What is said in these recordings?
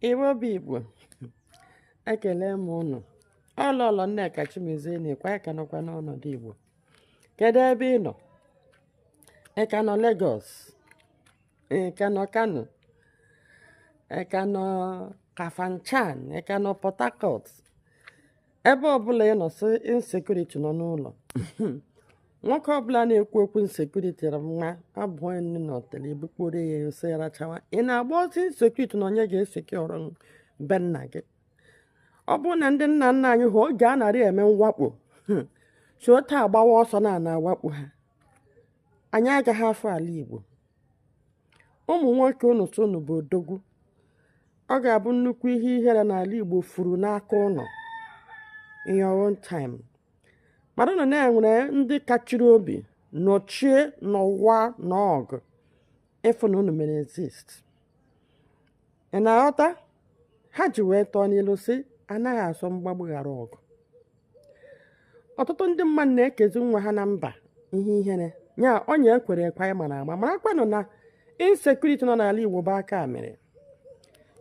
Igbo bụ Igbo ekele m ụnụ ọ Lọlọ Nneka Chimezie na-ekwu ị ka nọkwa n'ọnọdụ Igbo kedu ebe ị nọ ị ka nọ Lagos ị ka nọ Kano ị ka nọ Kafanchan ị ka nọ Port Harcourt ebe ọbụla ị nọ sị insecurity nọ n'ụlọ nwoke ọbụla na-ekwu okwu insecurity ra nwa abụọ nne n'ọtele ebukporo ya ose ya rachawa ị na-agba ọsọ insecurity na onye ga-esecure be nna gị ọ bụrụ na ndị nna nna anyị ha oge a na-arị eme mwakpo si otu a agbawa ọsọ na a na-awakpo ha anyị agaghị afụ ala Igbo ụmụ nwoke unu sị unu bụ odogwu ọ ga-abụ nnukwu ihe ihere na ala Igbo furu n'aka ụnụ in your own time maranụ na e nwere ndị kachiri obi nọchie n'ụwa n'ọgụ ịfụ na unu mere exist Ị na-aghọta? Ha ji wee tụọ n'ilu sị, anaghị asọ mgbagbu ghara ọgụ. Ọtụtụ ndị mmadụ na-ekezi nwa ha na mba ihe ihere. Ya onye ekwere ekwe anyị mara ama marakwanụ na insecurity nọ n'ala Igbo bụ aka mere.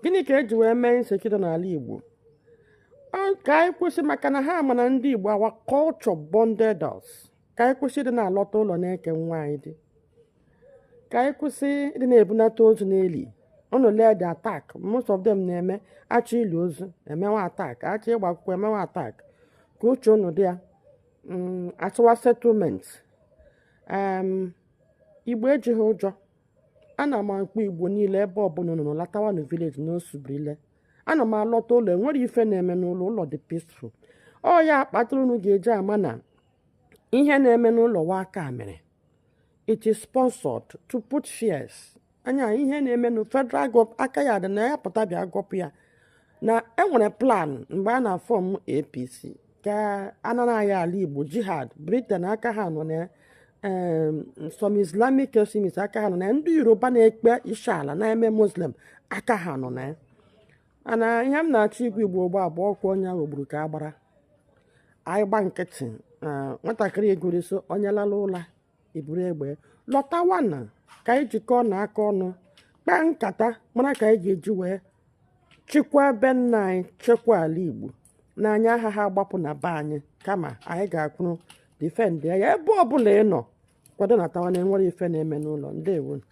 Gịnị ka e ji wee mee insecurity n'ala Igbo? Ọ ka anyị kwụsị maka na ha ma na ndị Igbo our culture bonded us. ka anyị kwụsị ịdị na-alọta ụlọ na-eke nwaanyị di ka anyị kwụsị ịdị na-ebunata ozu na-eli unu lee the attack most of them na-eme a chọọ ili ozu e mewe attack a chọọ ịgba akwụkwọ e mewe attack ka uche unu dị ya mm, a chọwa settlement igbo ejighị ụjọ ana m akpọ igbo niile ebe ọbụla unu nọ latawanụ village n'osubrile ana m alọta ụlọ enwerọ ife na-eme n'ụlọ ụlọ dị peaceful ọ ya kpatara unu ga-eji ama na ihe na-eme n'ụlọ wụ aka mere it is sponsored to put fears anya ihe na-eme na federal gov aka ya dị na ya pụta bịa gọpụ ya na e nwere plan mgbe a na-form APC ka a nara anyị ala igbo jihad Britain aka ha nọ na some islamic extremists aka ha nọ na ndị yoruba na-akpọ ishi ala na-eme muslim aka ha nọ na ya mana ihe m na-achọ ịgwa igbo ugbu a bụkwa onye ahụ gburu ka a gbara anyị gba nkịtị nwatakịrị egwureso onye lala ụla iburu egbe latawanụ ka anyị jikọọnụ aka ọnụ kpaa nkata mara ka anyị ga-eji wee chekwaa be nna anyị chekwa ala igbo na anyị agaghị agbapụ na be anyị kama anyị ga-akwụrụ defend ya ebe ọbụla ị nọ kwado natawa na enwerọ ife na-eme n'ụlọ ndewo